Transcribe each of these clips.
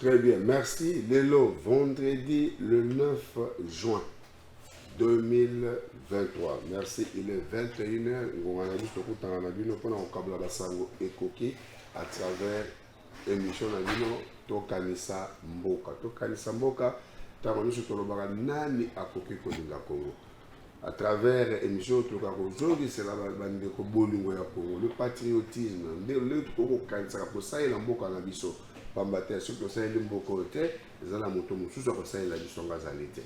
Très bien, merci. Lelo, vendredi le 9 juin 2023. Merci, il est 21h. Ngonga na biso tokutana na bino mpona kokabla basango ekoki à travers émission na bino tokanisa mboka. Tokanisa mboka ntango nyonso tolobaka nani akoki kolinga Kongo. à travers émission oyo tokoka kozongisela bandeko bolingo ya congo le patriotisme nde lolenge tokoki kokanisaka kosalela mboka na biso mpamba te soki tosaleli mboka oyo te eza na moto mosusu akosalela biso ngo azali te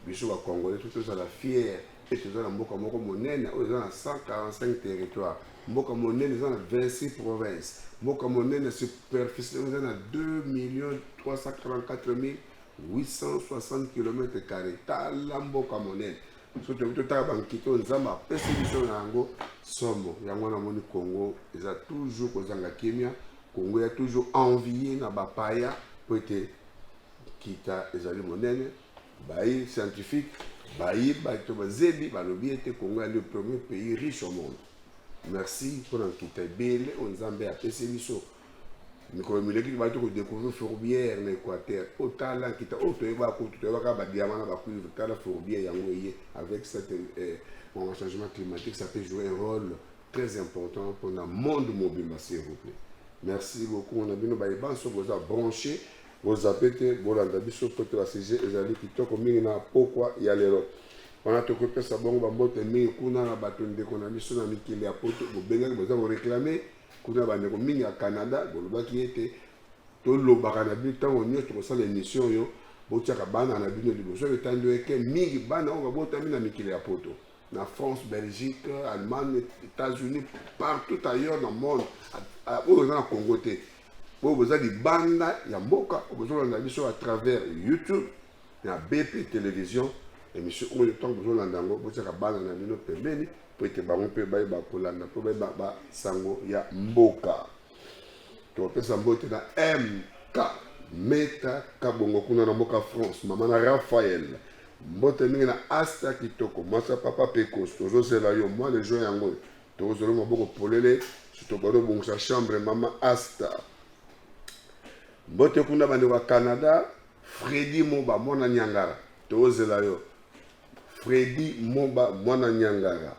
biso bacongolais to tozala fiere mpe toza na mboka moko monene oyo eza na 145 territoire mboka monene eza na 26 province mboka monene superficie eza na 2 million 344 mille 860 kilomètre carré tala mboka monene so toyebi totala bankito nzambe apesi biso na yango somo yango wana amoni congo eza toujours kozanga kimia congo ya toujours envie na bapaya mpo ete nkita ezali monene bayi scientifique bayi bato bazebi balobi ete congo ya le premier pays riche au monde merci mpo na nkita ebele oyo nzambe apesi biso mikolo mileki bato kodecouvrir fourbière na équateur oyo oh, tala nkita oyo oh, toyeba kutu toyebaka badiama na bacuivre tala fourbière yango eye avec cette eh, bon, changement climatique ça peut jouer un rôle très important mpona monde mobimba s'il vous plaît merci beaucoup na bino baye banso boza branché bozape te bolanda biso mpo te basujet ezali kitoko mingi na pokwa ya lelo wana tokopesa bongo bambote mingi kuna na bato ndeko na biso na mikili ya poto bobengaki boza koreklame Kuna bandeko mingi ya Canada bolobaki ete tolobaka na bino ntango nyonso tokosala emission oyo botiaka bana na bino liboso etandi eke mingi bana oyo babotami na mikili ya poto na france belgique allemagne états-unis partout ailleurs na monde oyo oza na congo te oyo boza libanda ya mboka oyo bozolanda biso à travers youtube na BP television emission oyo ntango bozolanda yango botiaka bana na bino pembeni mpo ete bango mpe bayeba kolanda mpo bayeba basango ya mboka topesa mbote na mk meta kabongo kuna na mboka france mama na raphael mbote mingi na asta kitoko mwasi ya papa pekos tozozela yo mwa legio yango oyo tokozela maboko polele sitobado obongisa chambre mama asta mbote kuna bandeko ya canada Freddy Moba mwana Niangara tozela yo Freddy Moba mwana Niangara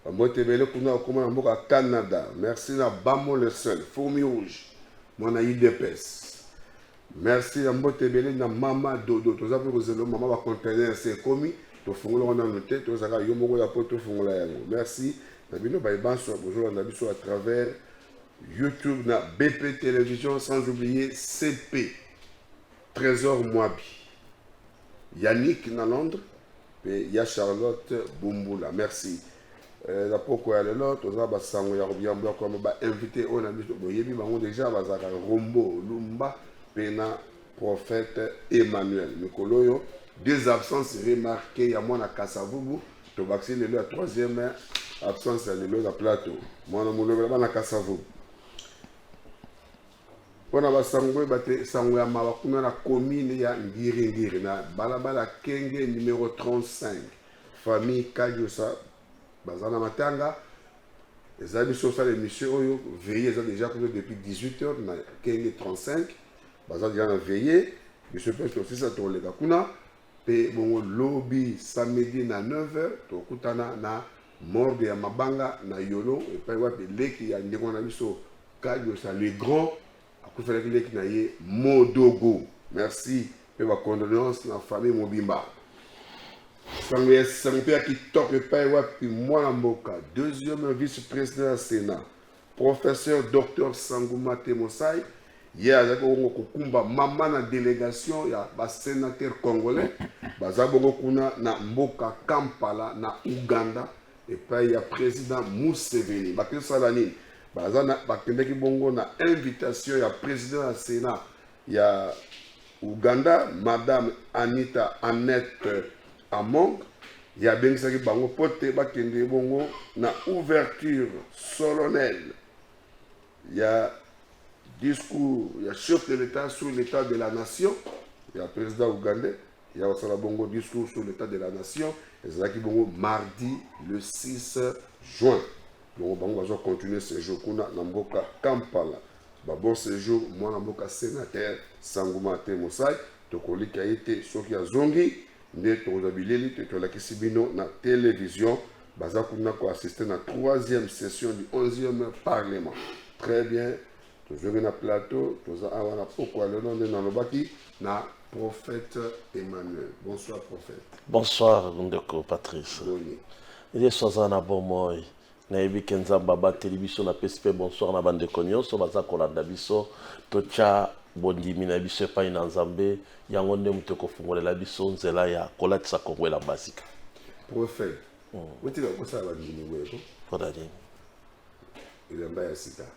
bambote ebele kuna okoma na mboka Canada merci na Bamo le seul fourmi rouge mwana UDPS merci na mbote ebele na mama dodo toza mpe kozela mama ba container se ekomi tofungola wana no te tozalaka yo moko ya mpo tofungola yango merci na bino baye banso bozolanda biso à travers youtube na bp télévision sans oublier cp Tresor Mwabi, Yannick na Londres pe ya Charlotte Bumbula. Merci. Euh, na poko ya lelo toza basango ya kobiambo ya koyamba ba invité oyo na biso boyebi bango deja bazalaka rombo lumba pe na prophète Emmanuel mikolo oyo deux absences remarquées ya mwana Kasavubu tobakisi lelo ya troisième absence ya lelo na plateau mwana molobela bana Kasavubu mpo na basango boye bate sango ya mawa kuna na commune ya ngiringiri na balabala kenge numero 35 famille kadiosa baza na matanga eza biso osala émission oyo veille eza déjà kuna depuis 18 heures na kenge 35 baza déjà na veille biso mpe tosisa tokoleka kuna mpe bongo lobi samedi na 9 heures tokutana na morgue ya mabanga na yolo epai wapi leki ya ndeko na biso kadiosa le grand akufelaki leki na ye modogo merci mpe bacondoléance na famille mobimba sango ya sango mpe ya kitoko epai wapi mwana mboka deuxième vice président ya sénat Professeur Docteur Sangu Mate Mosai ye azalaki bongo kokumba mama na delegation ya basenateur congolais baza bongo kuna na mboka Kampala na Ouganda epai ya president Museveni bakesala nini baza bakendaki bongo na invitation ya president ya Senat ya Ouganda, Madame Anita Annette Among, ye abengisaki bango mpo te bakende bongo na ouverture solennelle ya discours ya chef de l'Etat sur l'Etat de la nation ya president ougandais. ya kosala bongo discours sur l'état de la nation ezalaki bongo mardi le 6 juin bongo bango bazwa continuer séjour kuna na mboka kampala babon séjour mwana mboka sénateur sango martin mosai tokolika ye te soki azongi nde tokozwa bileli te tolakisi bino na télévision baza kuna koassiste na troisième session du 11e parlement très bien tozongi na plateau toza awa na pokwa lelo nde nalobaki na prophète emmanuel bonsoir prophète bonsoir ndeko patrice boni yesu aza na bomoi nayebi ke nzambe abateli biso napesi mpe bonsoir na bandeko nyonso baza kolanda biso totya bondimi na biso epai na nzambe yango nde moto ekofungolela biso nzela ya kolatisa kongo elamba sika prophète otika kosala bandimi boyeko mpona nini elamba ya sika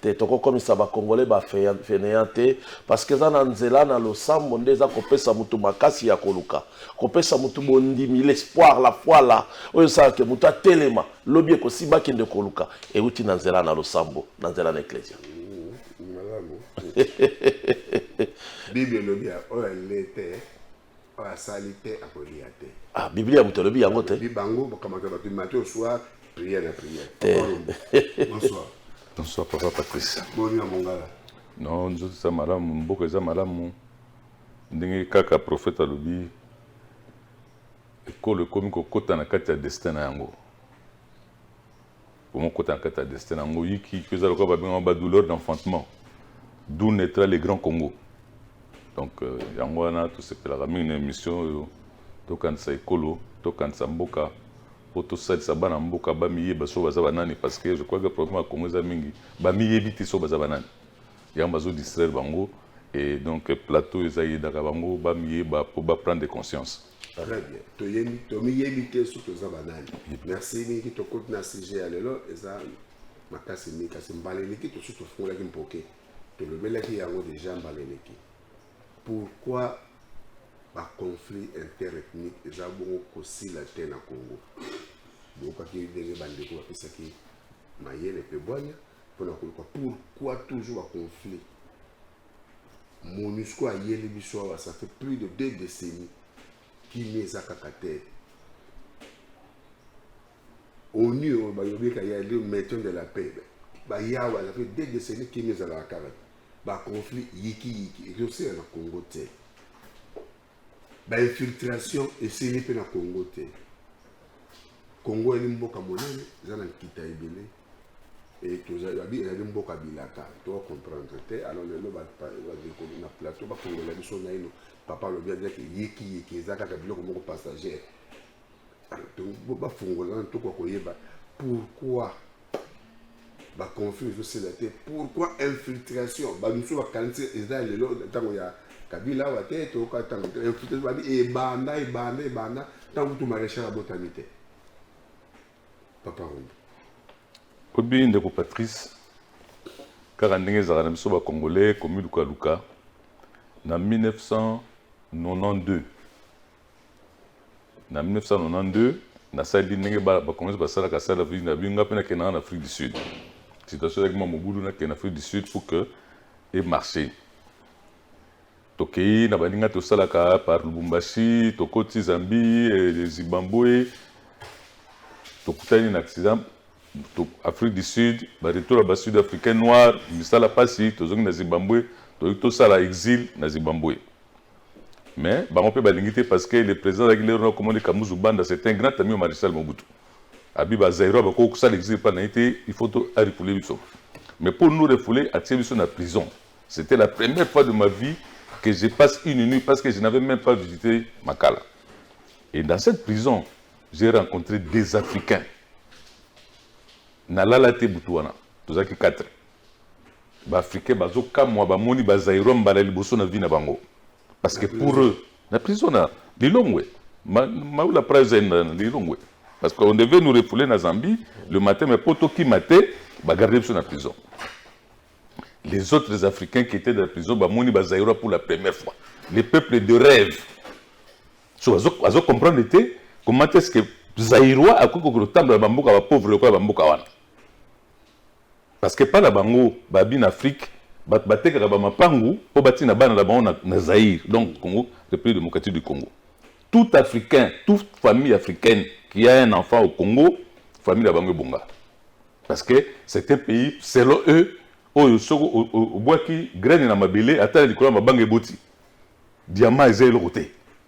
te toko komisa ba congolais ba feneant te parce que eza na nzela na losambo nde eza kopesa mutu makasi ya koluka kopesa mutu bondimi l'espoir la foi la oyo esala ke mutu atelema lobi ekosimba akende koluka euti na nzela na losambo na nzela na eklesia bible elobi oyo alete oyo asali te akolia te ah, biblia moto alobi yango te bi bango bakamata bato mate oswa priere ya priere te bonsoir bonsoir papa patrice boni na mongala non nzoto eza malamu mboka eza malamu ndenge kaka profete alobi ekolo ekomi kokota na kati ya destin na yango Comment côté en kata destin yango yiki que ça lokola babenga ba douleur d'enfantement d'où naîtra le grand Congo donc euh, yango wana tosepelaka mingi na émission oyo tokanisa ekolo tokanisa mboka mpo tosalisa bana mboka bamiyeba so baza banani parce que je crois que problème ya congo eza mingi bamiyebi te so baza banani yango bazo distraire bango et donc plateau eza yedaka bango bamiyeba mpo baprendre conscience Très bien. Toyebi, tomiyebi te soki toza banani. Merci mingi tokoti na sujet ya lelo eza makasi mingi kasi mbala eleki tosusu tofungolaki mpoke tolobelaki yango deja mbala eleki. Pourquoi ba conflit interethnique eza bongo kosila te na Congo? Boyokaki ndenge bandeko bapesaki mayele mpe bwanya mpo na koluka pourquoi toujours ba conflit monusco ayeli biso awa ça fait plus de deux décennies kimia eza kaka te onu oyo bayobika ya le maison de la paix bayawa ça fait deux décennies kimia ezalaka kaka te baconflit yikiyiki ezosela na congo te Ba infiltration esili mpe na Congo te. Congo yali mboka monene eza na nkita ebele e tozali ezali mboka bilaka to comprendre te alors lelo badekoli na plateau bakongola biso naino papa alobi azaki yekiyeki eza kaka biloko moko passagere bafungola na toko koyeba pourquoi baconflit ezosila te pourquoi infiltration bamosusu bakanisi eza ya lelo ntango ya kabila awa te toyoka ntango te infiltration babi ebanda ebanda ebanda ntango kutu maréchal abotami te papa rumbu obi ndeko patrice kaka ndenge ezalaka na biso bacongolais komilukaluka na 1992 na 1992 nasaleli ndenge bacongolais basalaka sala vie na bino nga mpe nakendaka na afrique du sud situation ezalaki mwa mobulu nakende na afrique du sud pour que emarche tokei na baninga tosalaka par lubumbashi tokoti zambie eh, zimbabwe tokutani na accident afrique du sud baretour ya basud africain noir misala mpasi tozongi na zimbabwe toyei tosala exil na zimbabwe mais bango mpe balingi te parce que le président azalaki lero na komoni kamuzu banda c'est un grand ami ya maréchal mobutu abi bazairo bakoki kosala exil epai na ye te il faut to arefule biso mais mpo nous refule atie biso na prison c'était la première fois de ma vie que je passe une nuit parce que je n'avais même pas visité makala et dans cette prison j'ai rencontré des africains nalala te butu wana tozalaki 4 Ba africains bazo kamwa ba moni ba zaïrois mbala liboso na vie na bango. Parce que pour eux, na prison na Lilongwe, ma, maula prize na Lilongwe. Parce qu'on devait nous refouler na Zambie le matin, mais poto qui maté, ba garder biso na prison. Les autres Africains qui étaient dans la prison, ba moni ba zaïrois pour la première fois. Les peuples de rêve. So, azo, azo comprendre était comment est-ce que zaïrois akoki kotambola bamboka ba pauvre lokola bamboka wana Parce que epa na bango ba bin Afrique bato batekaka ba mapangu po batina bana na bango na Zaïre donc Congo Republique Democratique du Congo tout Africain tout famille Africaine qui a un enfant au Congo famille na bango ebonga parce que c'est un pays selon eux oyo soko obwaki graine na mabele ata na likolo ya mabanga eboti diamant eza eloko te.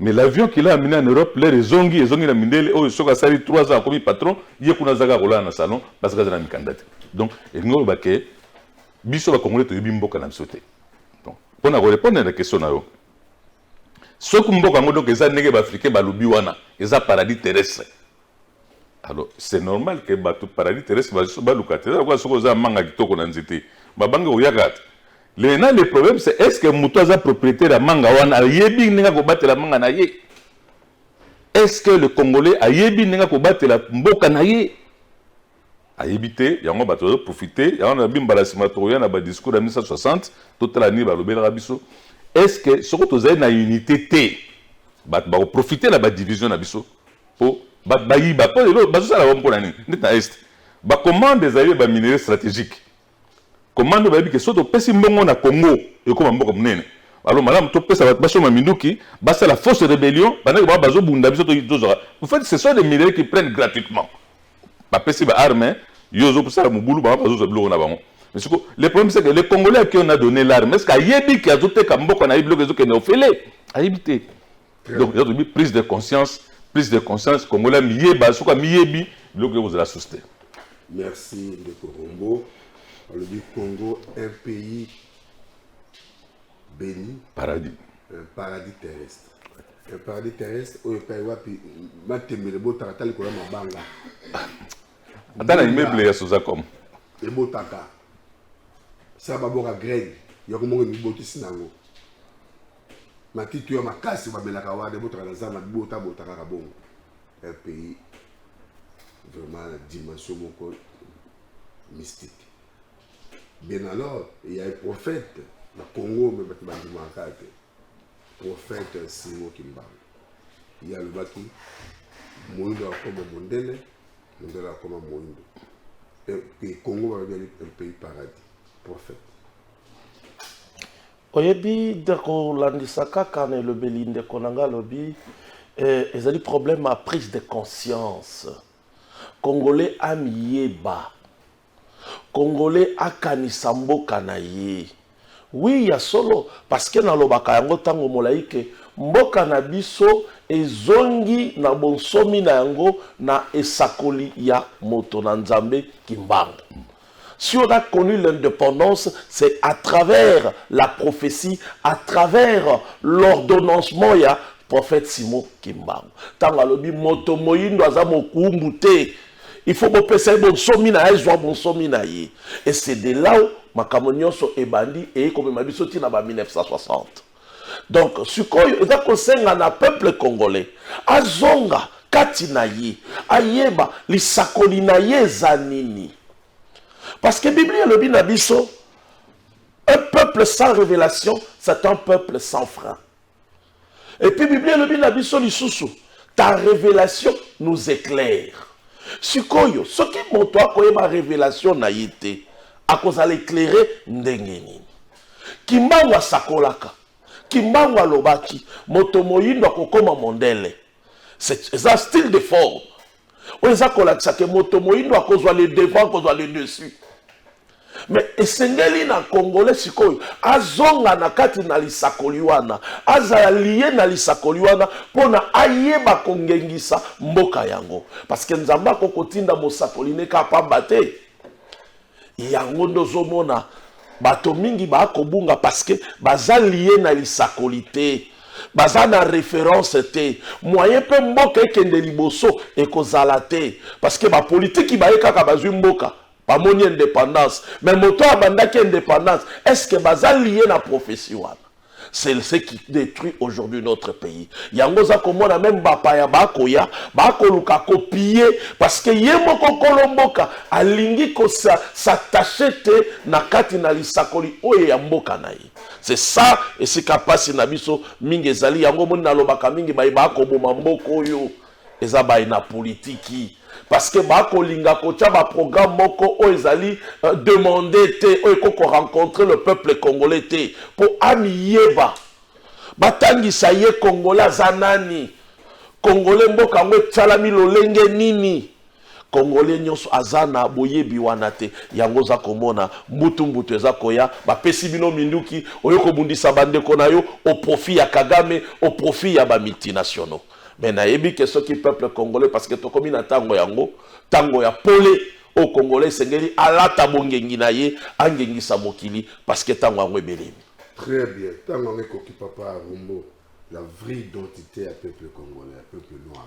Mais l'avion qu'il a amener en Europe l'heure ezongi ezongi na mindele oyo soki asali 3 ans akomi patron ye kuna azaka kolala na salon parce que aza na mikanda te donc elingi oloba ke biso bakongole toyebi mboka na biso te donc mpo na korepondre na question na yo soki mboka yango donc eza ndenge baafricain balobi wana eza paradis terrestre alors c'est normal que bato paradis terrestre basusu baluka te eza lokola soki oza manga kitoko na nzete babangi koyaka te lena le problème c'est est ce que moto aza propriétaire ya manga wana ayebi ndenge akobatela manga na ye est ce que le congolais ayebi ndenge akobatela mboka na ye ayebi te yango bato bazo profite yango na bi mbala nsima tokoya na badiscours ya 1960 totala nini balobelaka biso est ce que soko tozali na unité te bato bakoprofite na badivision na biso mpo bato bayiba mpo lelo bazosala bango mpo na nini ndeti na est bacommande ezali ya baminerie stratégique Comment nde bayebi ke soki topesi mbongo na Congo ekoma mboka monene? Alors malamu topesa bato basomba minduki, basala fausse rebellion, bandaki bango bazobunda biso tozwaka. En fait ce sont des minerais qui prennent gratuitement. Bapesi ba armes, yo ozosala mobulu bango bazozwa biloko na bango. Mais siko le problème c'est que le Congolais à qui on a donné l'arme, est-ce que ayebi ke azoteka mboka na ye biloko ezokende ofele? Ayebi te. donc eza tobi prise de conscience prise de conscience congolais amiyeba soki amiyebi biloko yo kozala susu te merci ndeko rombo alobi congo un pays béni paradis un paradis terrestre un paradis terrestre oyo epai wapi matembele botaka ta likolo ya mabanga ata na immeuble ya sozacom ebotaka sa baboka graine ya komoko emibotisi na yango matitu ya makasi bamelaka wana ebotaka na zamba bota bota kaka bongo un pays vraiment na dimension moko mystique bien alors il y a un prophète na congo me bato bandimaka te prophète simo kimbangu ye alobaki moindo akoma mondele mondele akoma moindo e, e, congo balobi un pays paradis prophète oyebi ndeko landisa kaka na elobeli ndeko na ngai alobi eh, ezali problème ya prise de conscience congolais amiyeba congolais akanisa mboka na ye wi ya solo parceke nalobaka yango ntango molai ke mboka na biso ezongi na bonsomi na yango na esakoli ya moto na nzambe kimbangu Si on a connu l'independance, c'est à travers la prophetie, à travers l'ordonnancement ya prophète Simon Kimbangu. Tango alobi moto moyindo aza mokuumbu te, il faut bopesa ye bonsomi na ye azwa bonsomi na ye. Et c'est de là où makambo nyonso ebandi eye komema biso ti na ba 1960. donc sikoyo eza kosenga na peuple congolais azonga kati na ye ayeba lisakoli na ye eza nini parce que biblia elobi na biso un peuple sans révélation c'est un peuple sans frein et puis biblia elobi na biso lisusu ta révélation nous éclaire sikoyo soki moto akoyeba révélation na ye te akozala éclaire ndenge nini Kimbangu asakolaka, Kimbangu alobaki moto moyindo akokoma mondele. Eza style de forme oyo eza kolakisa ke moto moyindo akozwa le devant, akozwa le dessus. Mais esengeli na congolais sikoyo azonga na kati na lisakoli wana, azala liye na lisakoli wana mpo na ayeba kongengisa mboka yango, parce que Nzambe akoki kotinda mosakoli ne kaka pamba te. yango nde ozomona bato mingi bakobunga parceke baza lie na lisakoli te baza na reference te moyen mpe mboka ekende liboso ekozala te parceke bapolitiki baye kaka bazwi mboka bamoni independance me moto abandaki independance estce baza lie na profesi wana c'est ce qui détruit aujourd'hui notre pays yango oza komona meme bapaya bakoya bakoluka kopie parce que ye moko kolo mboka alingi kosattache te na kati na lisakoli oyo ya mboka na ye c'est ça esika mpasi na biso mingi ezali yango omoni nalobaka mingi baye bakoboma mboka oyo eza baye na politiki parce que bakolinga kotya baprogramme moko oyo ezali euh, demande te oyo ekoki korencontre le peuple congolais te mpo amiyeba batangisa ye congolais aza nani congolais mboka yango etyalami lolenge nini Congolais nionso aza na boyebi wana te yango oza komona mbutu mbutu eza koya bapesi bino minduki oyo kobundisa bandeko na yo au profit ya Kagame au profit ya ba multinationaux mais nayebi ke soki peuple congolais parce que tokomi na tango yango tango ya pole au congolais esengeli alata bongengi na ye angengisa mokili parce que tango yango ebelemi Très bien. Tango yango ekoki papa Rumbo, la vraie identité ya peuple congolais, ya peuple noir.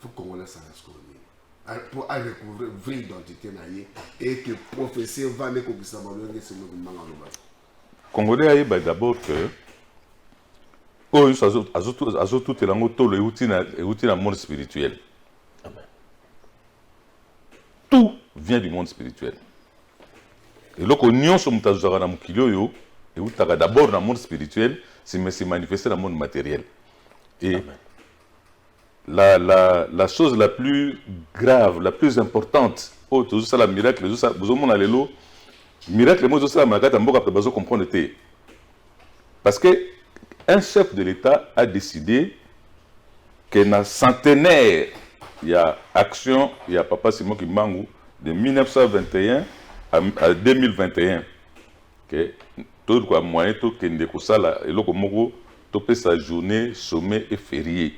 fo congolais asala sikoyo nini mpo arecouvre vraie identité na ye eke professeur vanda ekokisa balolenge selo kombanga loba congolais ayeba d'abord que oyo nyonso azotutela yango tolo euti na monde spirituel tout vient du monde spirituel Eloko nionso moto azwaka na mokili oyo eutaka d'abord na monde spirituel, sima se manifester na monde materiel. Et Amen. la, la, la chose la plus grave, la plus importante, oyo tozosala miracle, bozomona lelo, miracle moko ezosalama na kati ya mboka mpe bazo comprendre te. Parce que un chef de l'État a décidé que na centenaire ya action ya Papa Simon Kimbangu de 1921 à 2021 que tout quoi moyen tout que de kosala eloko moko sa journée sommet et férié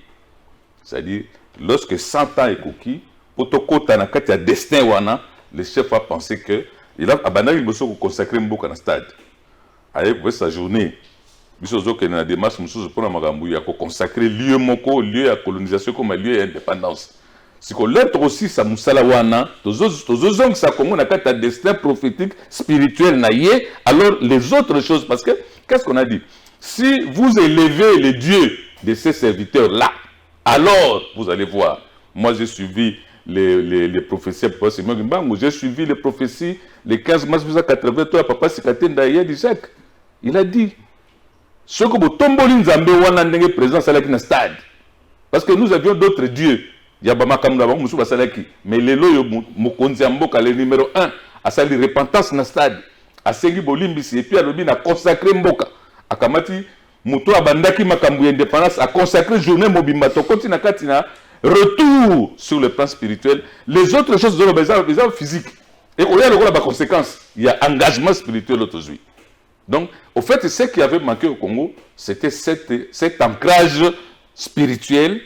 c'est-à-dire lorsque 100 ans ekoki pour to kota na kati ya destin wana le chef a pensé que il a abandaki liboso ko consacrer mboka na stade Aye kopesa journee biso tozokende na demarche mosusu mpo na makambo ya koconsacre lieu moko lieu ya colonisation ekoma lieu ya independance siko lere tokosilisa mosala wana tozozongisa congo na kati ya destin prophétique spirituel na ye alors les autres choses parce que qu'est ce qu'on a dit si vous élevez le dieu de ces serviteurs là Alors vous allez voir, moi j'ai suivi les, les, les prophéties ya Papa Simon Kimbangu, j'ai suivi les prophéties le 15 mars 1983 ya Papa Sikatenda ya Jacques. Il a dit soki botomboli nzambe wana ndenge président asalaki na stade parce que nous avions d'autres dieux ya bamakambo na bango mosusu basalaki mais lelo oyo mokonzi ya mboka le numero 1 asali repentance na stade asengi bolimbisi epuis alobi na consacre mboka akamati Moto oyo abandaki makambo ya independance a consacrer journée mobimba tokoti na kati na retour sur le plan spirituel les autres choses zoloba eza eza physique et oya lokola ba conséquences ya engagement spirituel oyo tozwi donc au fait ce qui avait manqué au Congo c'était cet, cet ancrage spirituel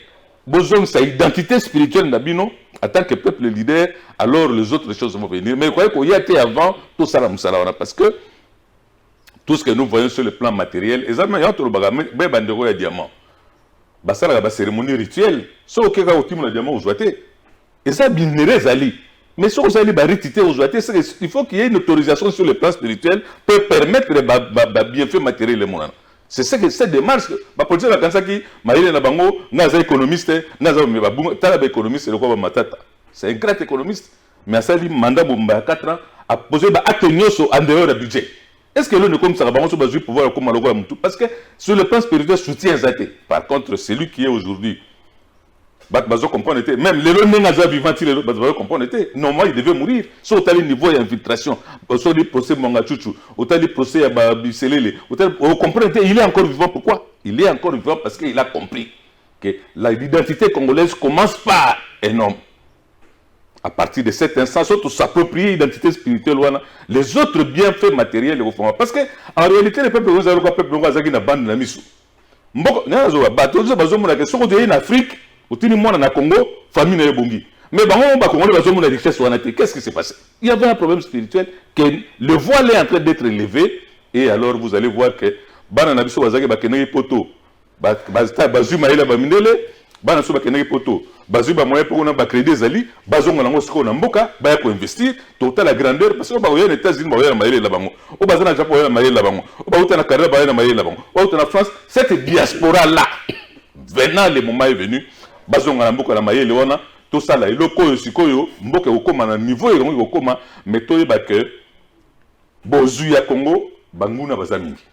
bozongisa identité spirituelle na bino en tant que peuple leader alors les autres choses vont venir mais okoki koya te avant tosala mosala wana parce que Tout ce que nous voyons sur le plan materiel, eza mais yango tolobaka be bandeko ya diamant basalaka ba cérémonie rituelle soki oke kaka otimola diamant ozwa te eza binere ezali mais soki ozali bariti te ozwa te il faut qu'il y ait une autorisation sur le plan spirituel mpo permettre babienfait ba, ba matériel emonana c'est ce que cette démarche bapolitien bakanisaki mayele na bango nga aza économiste nga aza babunga tala baéconomiste lokola bamatata c'est un grand économiste mais asali mandat mobimba ya 4 ans apose ba acte nyonso en dehors ya budget est ce que eloni ekomisaka bango so bazwi pouvoir ekoma lokola motu parce que sur le plan spirituel soutien eza te par contre celui qui est aujourd'hui bato bazo comprendre te même lelo ndenge aza vivant ti lelo bato bazo comprendre te normalement il devait mourir so otali niveau ya infiltration osoli procès mwanga chuchu otali procès ya babiselele otali ocomprendre te il est encore vivant pourquoi il est encore vivant parce que il a compris que l'identité congolaise commence par un homme à partir de cet instant soit tu s'approprie identité spirituelle wana les autres bienfaits matériels ekofama parce que en réalité le peuple ozali kwa peuple yango azalaki na bande na miso mboko nazoba bato ozo bazomona ke soki toyei na afrique otini mwana na congo famille na yo ebongi mais bango bakongoli bazomona richesse wana te qu'est ce qui se passe il y avait un problème spirituel que le voile est en train d'être levé et alors vous allez voir que bana na biso bazalaki bakendaki poto bazwi mayele ya bamindele bana so bakendaki poto bazwi bamoyen mpe kuna bacrédit ezali bazonga nango sikoyo na mboka baya koinvestir totala grandeur parce oyo bakoya na états-unis bakoya na mayele na bango oyo baza na japon bakoya na mayele na bango oyo bauta na canada bakoya na mayele na bango bauta na france cette diaspora là venant le moment est venu bazonga na mboka na mayele wana tosala eloko oyo sikoyo mboka ekokoma na niveau elongo ekokoma mais toyeba ke bozwi ya congo banguna baza mingi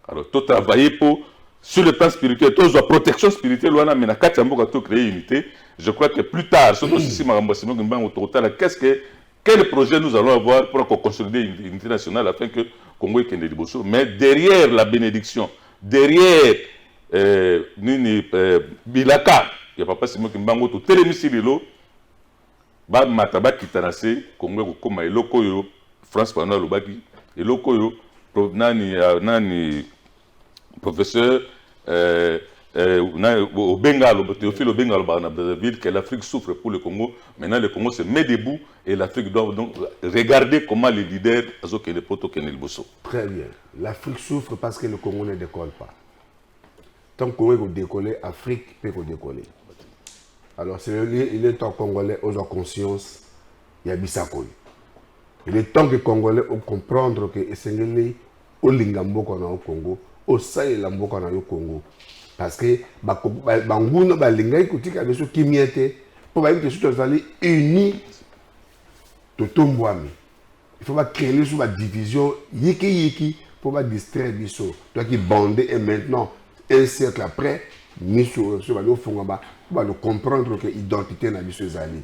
alors to travailler po sur le plan spirituel tozwa protection spirituelle wana mais na kati ya mboka to créer unité je crois que plus tard soki osisi makambo ya simo kimbangu tokotala qu'est ce que quel projet nous allons avoir pour ko consolider unité nationale afin que congo ekende liboso mais derrière la bénédiction derrière euh, nini euh, bilaka ya papa simo kimbangu totelemisi lelo Ba mata ba kita na se Congo eko koma eloko oyo France Fanon alobaki eloko oyo nani euh, nani professeur euh, euh, Obenga aloba Théophile Obenga aloba na Brazzaville que l'Afrique souffre pour le Congo maintenant le Congo se met debout et l'Afrique doit donc regarder comment les leaders azo kende poto kende liboso très bien l'Afrique souffre parce que le Congo ne décolle pas tant que Congo eko décoller Afrique peut eko décoller alors c'est il est temps congolais ozwa conscience ya bisakoyo il est temps que congolais o comprendre que esengeli olinga mboka na yo Congo osalela mboka na yo Congo parce que banguna balingaki kotika biso kimia te mpo bayebi te soki tozali uni totombwami il faut ba créer sur ba division yiki yiki pour ba distraire biso toi qui bande et maintenant un siècle après miso sur ba no fonga ba ba no comprendre que identité na biso ezali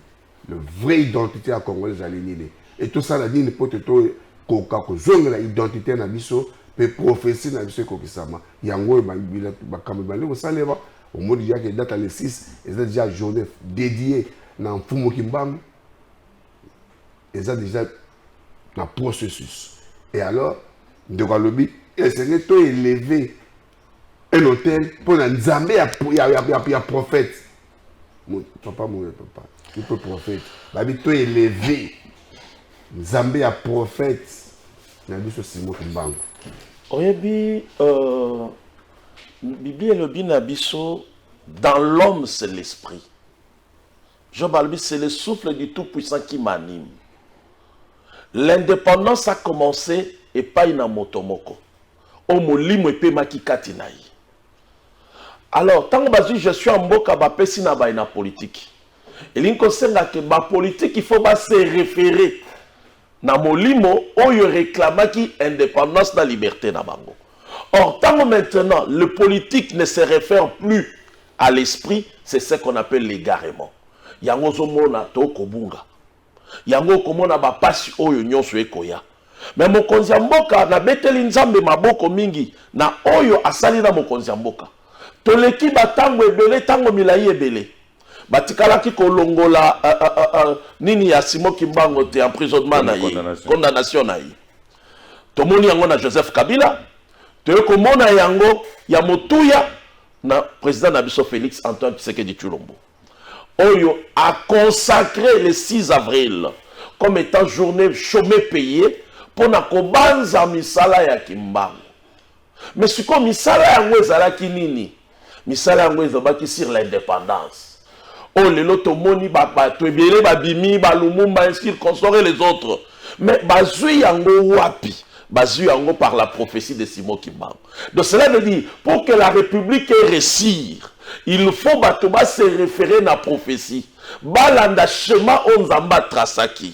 le vrai identité ya congolais ezali nini et tout ça la nini pour te to koka ko zongela identité na biso pe prophétie na biso ekokisama yango oyo bakambo ebandi kosalema omoni déjà ke data le 6 eza déjà journée dédiée na mfumu kimbangu eza deja na processus et alors ndeko alobi esenge to eleve un hôtel mpo na nzambe ya, ya, ya, ya, ya prophète papa moye papa ipe prophète babi to eleve nzambe ya prophète na biso simo kimbangu oyebi euh, biblia elobi na biso dans l'homme c'est l'esprit Job alobi c'est le souffle du tout puissant qui m'anime. L'indépendance a commencé epai na moto moko oyo molimo epemaki kati na ye. Alors ntango bazwi gestion ya mboka bapesi na baye na politiki elingi kosenga ke bapolitiki faut base refere na molimo oyo reclamaki independance na liberte na bango. Or, tango maintenant, le politique ne se refère plus à l'esprit, c'est ce qu'on appelle l'égarement. Yango ozomona to kobunga. Yango okomona ba pasi oyo nyonso ekoya. Mais mokonzi ya mboka na beteli nzambe maboko mingi na oyo asali na mokonzi ya mboka. Toleki ba tango ebele, tango milayi ebele. batikalaki kolongola uh, uh, uh, uh, nini ya Simon Kimbango te emprisonnement na ye condamnation na ye tomoni yango na Joseph Kabila toye komona yango ya motuya na président na biso Félix Antoine Tshisekedi Tshilombo oyo a consacré le 6 avril comme étant journée chômé payé mpo na kobanza misala ya kimbangu Mais sikoyo misala yango ezalaki nini? Misala yango ezobaki sur l'indépendance. Oh lelo tomoni ba bato ebele babimi ba Lumumba ainsi consort et les autres. Mais bazui yango wapi? Bazui yango par la prophétie de Simon Kimbangu. Donc cela veut dire pour que la République ait réussir, il faut bato ba se référer na prophétie. Balanda schéma oyo Nzambe atrasaki.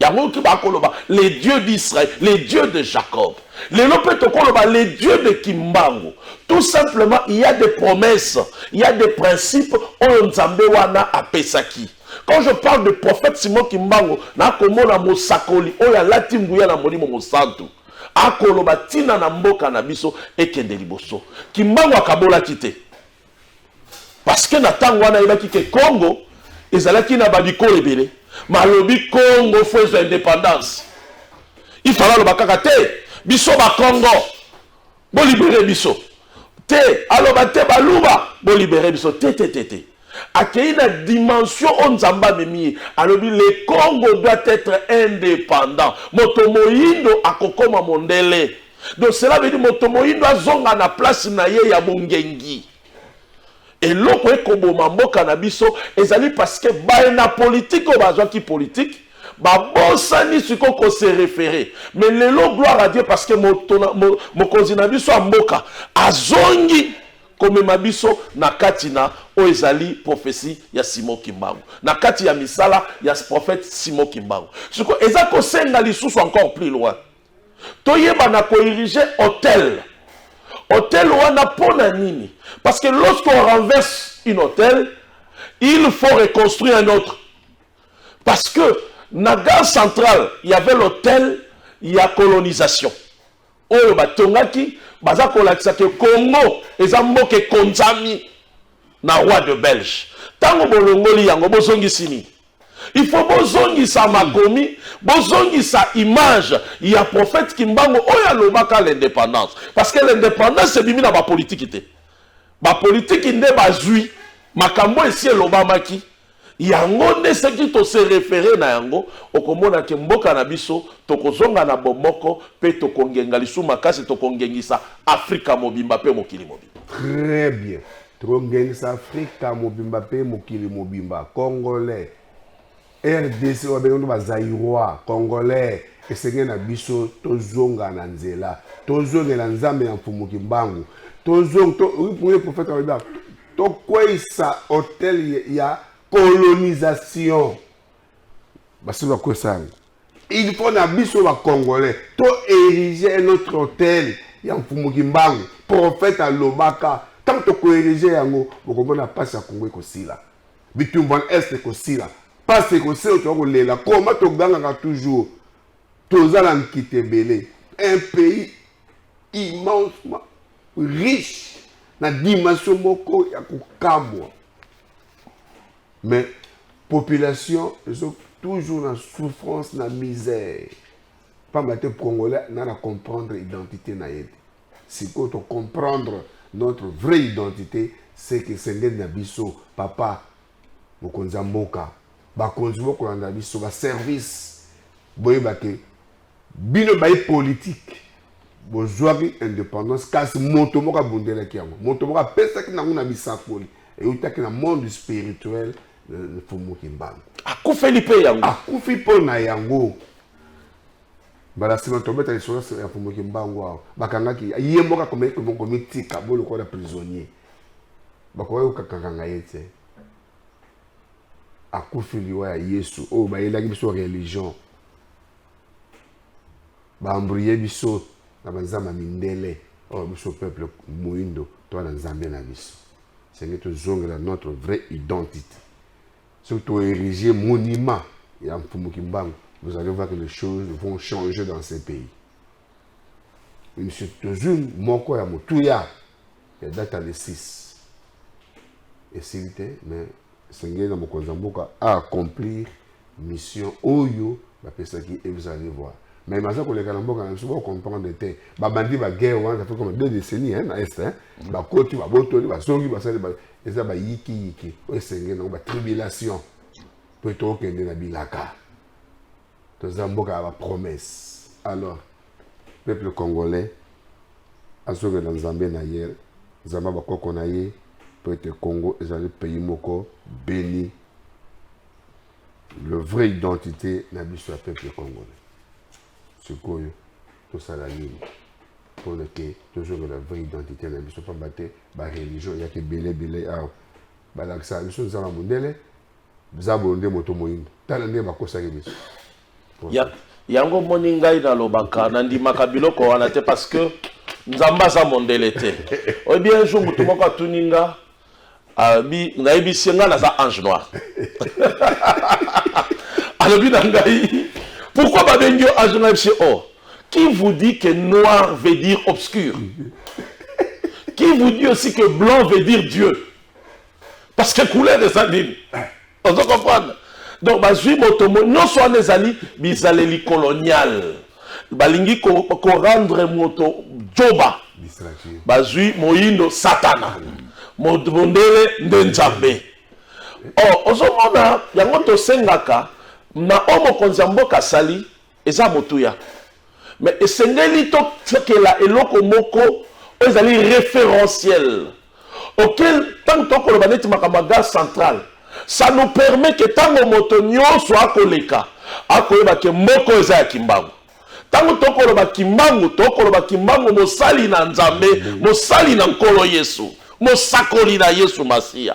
yango oki bakoloba le dieu d'israel le dieu de jacob lelo mpe tokoloba le dieu de kimbangu tout simplement il y a des promesses il y a des principes oyo nzambe wana apesaki quand je parle de prophète simon kimbangu nakomona mosakoli oyo alati nguya na molimo mosantu akoloba ntina na mboka na biso ekende liboso kimbangu akabolaki te parce que na ntango wana ayebaki ke congo ezalaki na babikolo ebele malobi congo fo ezwa indépendance ifala aloba kaka te biso bakongo bolibere biso te aloba te baluba bolibere biso te te te te akei na dimension oyo nzambe amemi ye alobi le congo doit être indépendant moto moyindo akokoma mondele donc cela veut dire moto moyindo azonga na place na ye ya bongengi eloko ekoboma mboka na biso ezali parce que baye na politike oyo bazwaki politike babosani sikoyo kose refere me lelo gloire à dieu parce que mokonzi na biso ya mboka azongi komema biso na kati na oyo ezali profesi ya simo kimbangu na kati ya misala ya prophète simo kimbangu sikoyo eza kosenga lisusu encore plus loin toyeba na koirige hotel hotel wana mpo na nini parce que lorsque on renverse une hotel il faut reconstruire un autre parce que na gare centrale il y avait l'hôtel ya colonisation oyo batongaki baza kolakisa ke congo eza mboka ekonzami na roi de belge ntango bolongoli yango bozongisi nini Il faut bozongisa makomi, bozongisa image ya prophète Kimbangu oyo alobaka l'indépendance. Parce que l'indépendance ebimi na ba politique te. Ba politique nde bazui makambo esi elobamaki. Yango nde soki to se référer na yango okomona ke mboka na biso tokozonga na bomoko pe tokongenga lisu makasi tokongengisa Afrika mobimba pe mokili mobimba. Très bien. Tokongengisa Afrika mobimba mpe mokili mobimba. Congolais, RDC oyo abengi ba Zaïrois, Congolais, esenge na biso tozonga na nzela, tozongela Nzambe ya Mfumu Kimbangu, tozong to, oui, prophète alobi tokweyisa hotel ya colonisation. basili bakwesa yango il faut na biso bacongolais to érige notre hôtel ya mfumu kimbangu prophète alobaka ntango tokoerige yango bokomona mpasi ya kongo ekosila bitumbu wana este ekosila mpasi ekosila otoka kolela koma togangaka toujours toza na nkita ebele un pays immensement riche na dimension moko ya kokamwa mais population ezo toujours na souffrance na misère pamba te congolais na na comprendre identité na ye te sikoyo to comprendre notre vraie identité c'est que sengeli na biso papa mokonzi ya mboka bakonzi bokolanda biso baservice boyeba ke Bino bayi politique bozwaki independance kasi moto moko abundelaki yango moto moko apesaki nango na bisakoli eutaki na monde spirituel mfumu kimbangu akufeli mpe yango akufi mpo na yango mbala nsima tobeta lisolo ya mfumu kimbangu awa bakangaki ye moko akomaki komitika bo lokola prisonnier bakokaki kokakanga ye te akufi liwa ya yesu oyo bayelaki biso religion baambrouye biso na banzambe ya mindele oyo oh, biso peuple moindo toa na nzambe na biso senge tozongela notre vraie identité soki toerige monument ya mfumu kimbangu vous allez voir que les choses vont changer dans ce pays monsieur tozwi moko ya motuya ya data le 6 esili te mais esengeli na mokonzi ya mboka a accomplir mission oyo bapesaki et vous allez voir mais baza koleka na mboka na biso bocomprendre te babandi baguerre wana ça fait comme deux décennies hein, na est hein. Mm. bakoti babotoli bazongi basali eza bayikiyiki oyo esengeli nango batribulation mpo ete okende na bilaka toza mboka ya bapromesse alors Peuple congolais azongela Nzambe na ye, Nzambe ya bakoko na ye mpo ete Congo ezali pays moko beni le vrai identité na biso ya peuple congolais sikoyo tosala nini mpo na ke tozongela vraie identité na biso mpamba te bareligion eyaki ebele ebele awa balakisaka biso nzala mondele zabolo nde moto moyindo tala ndenge bakosaki biso Ya, yango omoni ngai nalobaka nandimaka biloko wana te parce que nzambe aza mondele te oyebi un jour motu moko atuni nga abi nayebisi ye ngai naza ange noir alobi na ngai pourquoi babengi yo ange noir yebisi oh qui vous dit que noir veut dire obscur qui vous dit aussi que blanc veut dire dieu parce que couleur eza nini ozo comprendre donc bazwi moto nyonso wana ezali bizaleli colonial balingi korendre moto joba bazwi moyindo satana mondele nde nzambe o oh, ozomona yango tosengaka na oyo mokonzi ya mboka asali Eza motuya. Mais esengeli totiakela eloko moko oyo ezali referentiel auquel ntango tokoloba neti makambo ya gare centrale ça nous permet ke ntango moto nyonso akoleka akoyeba ke moko eza ya kimbangu ntango tokoloba kimbangu tokoloba kimbangu mosali na nzambe mosali na nkolo yesu mosakoli na yesu masiya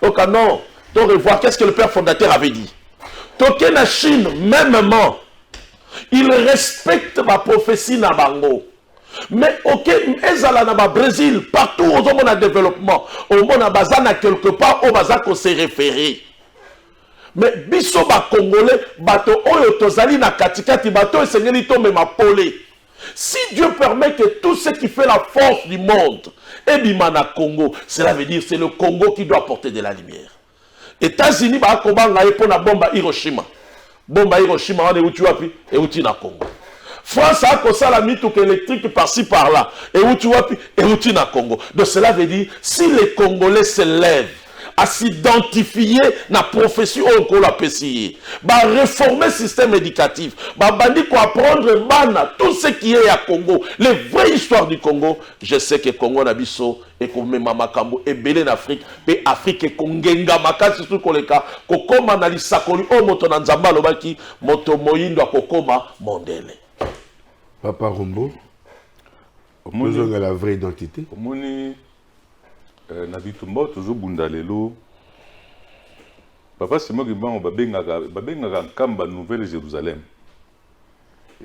Au canon, donc revoir qu'est-ce que le père fondateur avait dit. Toqué la Chine, mêmement, il respecte ma prophétie na bango. Mais ok, ezala na ba Brésil, partout aux hommes en développement, au monde à bazana quelque part, au bazako se référer. Mais biso ba congolais, bato oyo tozali na katikati, bato esengeli to mema pole. Si Dieu permet que tout ce qui fait la force du monde est Bimana Congo, cela veut dire c'est le Congo qui doit porter de la lumière. États-Unis ba kobanga ye pona bomba Hiroshima. Bomba Hiroshima wana euti wapi? Euti na Congo. France a kosala mituka électrique par-ci par-là. Euti wapi? Euti na Congo. Donc cela veut dire si les Congolais se lèvent à s'identifier na prophétie oyo nkolo apesi ye bareforme système éducatif babandi koapprendre bana tout ce qui est ya congo les vraies histoires du congo je sais que congo na biso ekomema makambo ebele na afrike mpe afrike ekongenga makasi soki koleka kokoma na lisakoli oyo moto na nzambe alobaki moto moyindo akokoma mondele papa rombo omoni ozongela vraie identité omoni Eh, na bitumba oyo tozobunda lelo papa simon kimbangu babengaka babengaka nkamba nouvelle jérusalem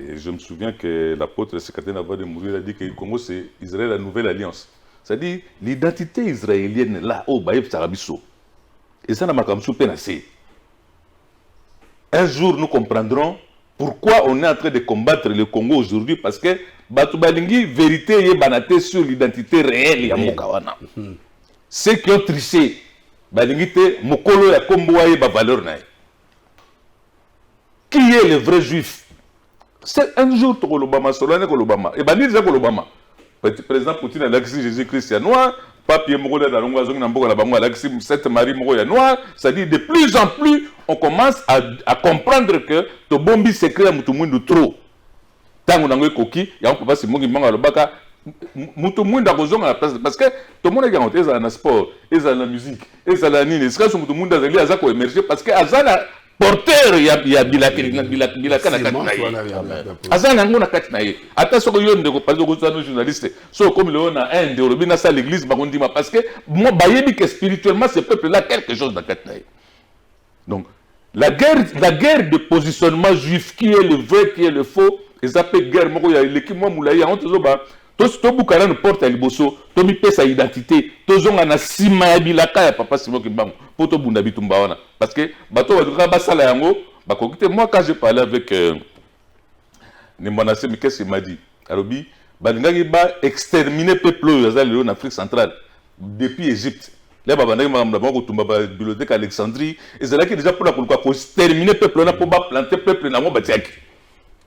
et je me souviens que l'apôtre secrétaire nava de mourir a dit que congo c'est israël la nouvelle alliance c'est-à-dire l'identité israélienne là oyo oh, bayebisaka biso eza na makambo mosusu mpe na se un jour nous comprendrons Pourquoi on est en train de combattre le Congo aujourd'hui parce que bato balingi verite eyebana te sur l'identité réelle ya mboka wana mhm. ceux qui ont triché balingi te mokolo ya kombo ayeba valeur na ye qui est le vrai juif c'est un jour tokolobama solo ane kolobama ebandi deja kolobama President Poutine alakisi Jesus Christ ya noir, pape ye moko leta longo azongi na mboka na bango alakisi Sainte Marie moko ya noir, c'est-à-dire de plus en plus on commence à, à comprendre que tobombi secret ya mutu mwindu trop. Tango nango ekoki, yango papa Simongi Mbanga alobaka mutu mwindu akozonga na place parce que tomonaki yango te ezala na sport, ezala na musique, ezala na nini, esika so mutu mwindu azali aza ko emerger parce que aza na porteur ya, ya bilaka na bilaka bilaka na kati na ye aza na yango na kati na ye ata soki yo ndeko pasi okozwa no journaliste so okomi lelo na inde olobi na sa l'église bakondima parce que moi bayebi que spirituellement ce peuple là quelque chose na kati na ye donc la guerre la guerre de positionnement juif qui est le vrai qui est le faux eza mpe guerre moko ya eleki mwa molai yango tozoba tosi tobuka nanu porte ya liboso tomipesa identité tozonga na nsima ya bilaka ya papa simo kimbangu mpo tobunda bitumba wana parce que bato oyo balingaka basala yango bakoki te moi quand je parle avec euh, nimbwana semi qu'est ce qu'il m'a dit alobi balingaki ba extermine peuple oyo aza lelo na afrique centrale depuis égypte le babandaki makambo na bango kotumba babibliothèque alexandrie ezalaki deja mpona koluka kostermine peuple wana mpo baplante peuple na yango batiaki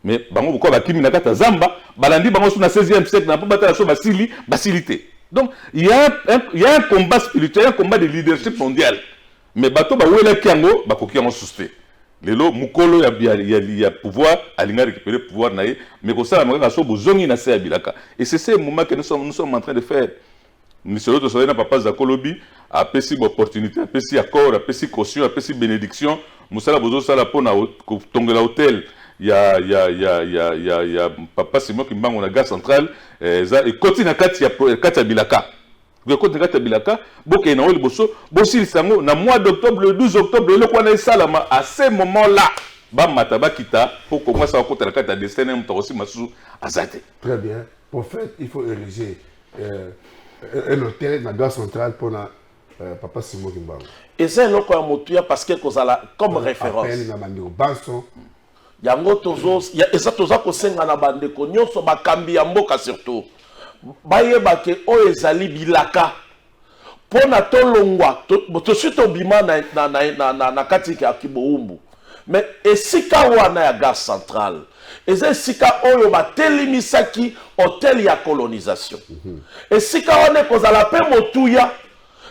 mais bango pourquoi bakimi na kati ya zamba balandi bango so na 16e siècle na mpo batala so basili basili te donc il y a un, il y a un combat spirituel un combat de leadership mondial mais bato bawelaki yango bakoki yango susu te lelo mokolo ya, ya, ya, ya pouvoir alinga récupérer pouvoir na ye mais kosalama kaka so bozongi na se ya bilaka et c'est ce moment que nous sommes, nous sommes en train de faire lisolo tosalaki na papa zako lobi apesi baopportunité apesi accord apesi caution apesi bénédiction mosala bozosala mpo na kotongela hotel ya, ya, ya, ya, ya, ya papa simon kimbangu na gare centrale eh, eza ekoti na kati ya, kati ya bilaka ekoti na kati ya bilaka bokei nango liboso bosilisa yango na mois d'octobre le 12 octobre eloko wana esalama à ce moment là bamata bakita mpo kongo asala kota na kati ya destin naye moto akosima susu aza te très bien prophète il faut ériger euh, un hôtel na gare centrale mpo na euh, papa simo kimbangu eza eloko ya motuya parce que ekozala comme référence appel na bandeko banso yango tozo ya- eza toza kosenga na bandeko nyonso bakambi ya mboka surtout bayeba ke oyo ezali bilaka mpo na tolongwa tosi tobima na, na, na, na, na, na kati ya kiboumbu me esika wana ya gare centrale eza esika oyo batelemisaki hotel ya colonisation mm -hmm. esika wana ekozala mpe motuya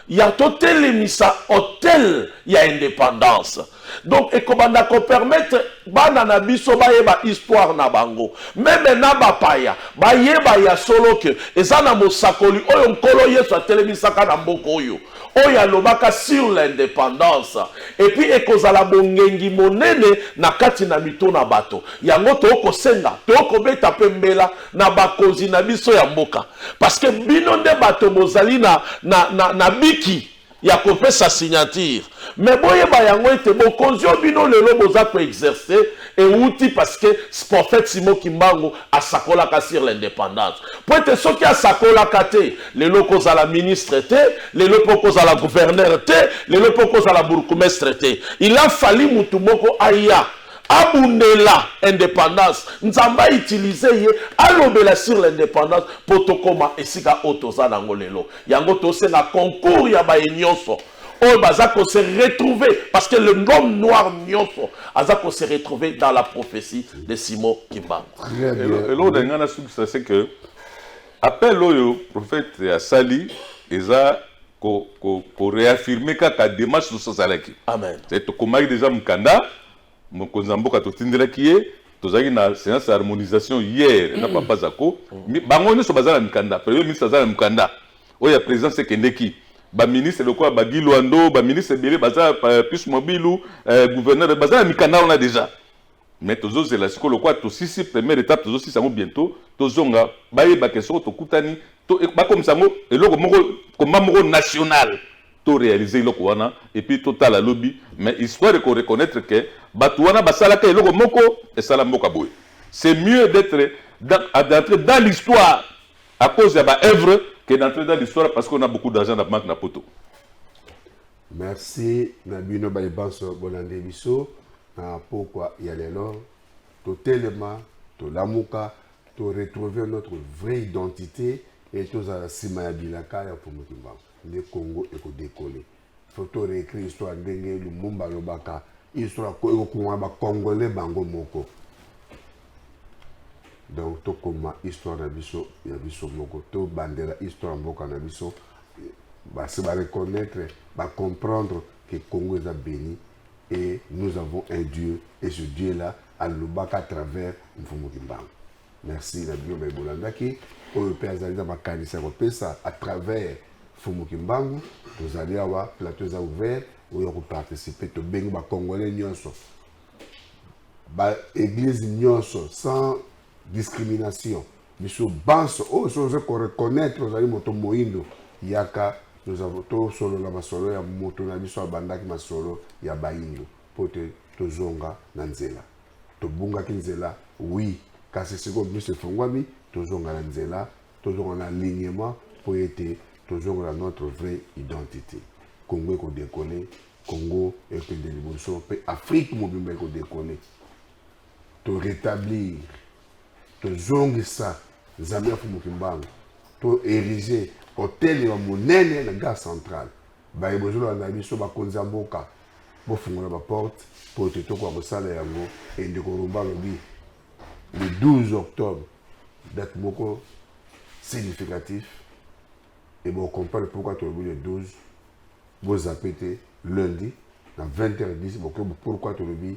ya totelemisa hotel ya independance Donc ekobanda ko permettre bana na biso bayeba histoire na bango. Meme na bapaya bayeba ya solo que eza na mosakoli oyo nkolo Yesu atelemisaka na mboka oyo oyo alobaka sur l'independance epuis ekozala bongengi monene na kati na mito na bato yango tookosenga tookobeta mpe mbela na bakonzi na biso ya mboka parce que bino nde bato bozali na, na, na, na biki ya kopesa signature mais boyeba yango ete bokonzi oyo bino lelo boza koexerce euti parce que prophète simo kimbangu asakolaka sur l'indépendance mpo ete soki asakolaka te lelo okozala ministre te lelo mpe okozala gouverneur te lelo mpe okozala bourgmestre te il a fali motu moko aya abundela indépendance nzambe autilize ye alobela sur l'indépendance mpo tokóma esika oyo toza na yango lelo Yango tosenga concours ya baye nionso oyo baza ko se retrouver parce que le homme noir nionso aza ko se retrouver dans la prophétie de Simon Kimbangu. Très bien. Elo- eloko na ngai nasukisa se ke appel oyo prophète asali eza ko- ko- koreaffirme kaka démarche nyonso asalaki Amen. C'est tokomaki deja mokanda Mokonzi ya mboka totindelaki ye tozalaki na séance ya harmonisation hier na papa zako Mi- bango nyonso baza na mikanda premier ministre aza na mokanda oyo ya présidence ekendeki baministre lokola bagi lwando baministre ebele baza pa- pius mobilu eh, gouverneur baza na mikanda wana déjà mais tozozela sikoyo lokola tosisi première étape tozosisa yango bientôt tozonga bayebake soko tokutani to- e- bakomisa yango eloko moko komba moko national to realiser eloko wana et puis totala lobi mais histoire eko reconnaitre que batu wana basalaka eloko moko esala mboka boye c'est mieux d'être d'entrer dans l'histoire à cause ya ba œuvre que d'entrer dans l'histoire parce qu'on a beaucoup d'argent na banque na poto merci na bino baye banso bolande biso na pokwa ya lelo totelema tolamuka to retrouver notre vraie identité et tozala nsima ya bilaka ya mfumu kimbangu nde congo ekodekole faut to réécrit histoire ndenge lumumba alobaka histoire ekokungana bacongolais bango moko donc tokoma histoire na biso ya biso moko tobandela histoire ya mboka na biso basi bareconnaitre bacomprendre que congo eza béni et nous avons un dieu et ce dieu là alobaka à travers mfumu kimbangu merci na bino baye bolandaki oyo mpe azali na makanisi ya kopesa à travers fumu kimbangu tozali awa plateau eza ouvert oyo akoparticipe tobengi bacongolais nyonso baeglise nyonso sans discrimination biso banso oyo so oza koreconnaitre ozali moto moindo yaka tosolola masolo ya moto na biso abandaki masolo ya baindo mpo te tozonga na nzela tobungaki nzela oui kasi sikoyo miso efongwami tozonga na nzela tozonga na alignement mpo ete tozonga na notre vraie identité congo ekodekole congo ekende liboso mpe afrique mobimba ekodekole to rétablir tozongisa nzambe ya fumuki mbango to érige hôtel ya monene na gare centrale Baye bozolanda biso bakonzi ya mboka bofungola ba porte po te tokoka kosala yango e ndeko Rumba alobi le 12 octobre date moko significatif e bocomprendre pourquoi tolobi le 12 bozape te lundi na 20h10 bokoki pourquoi tolobi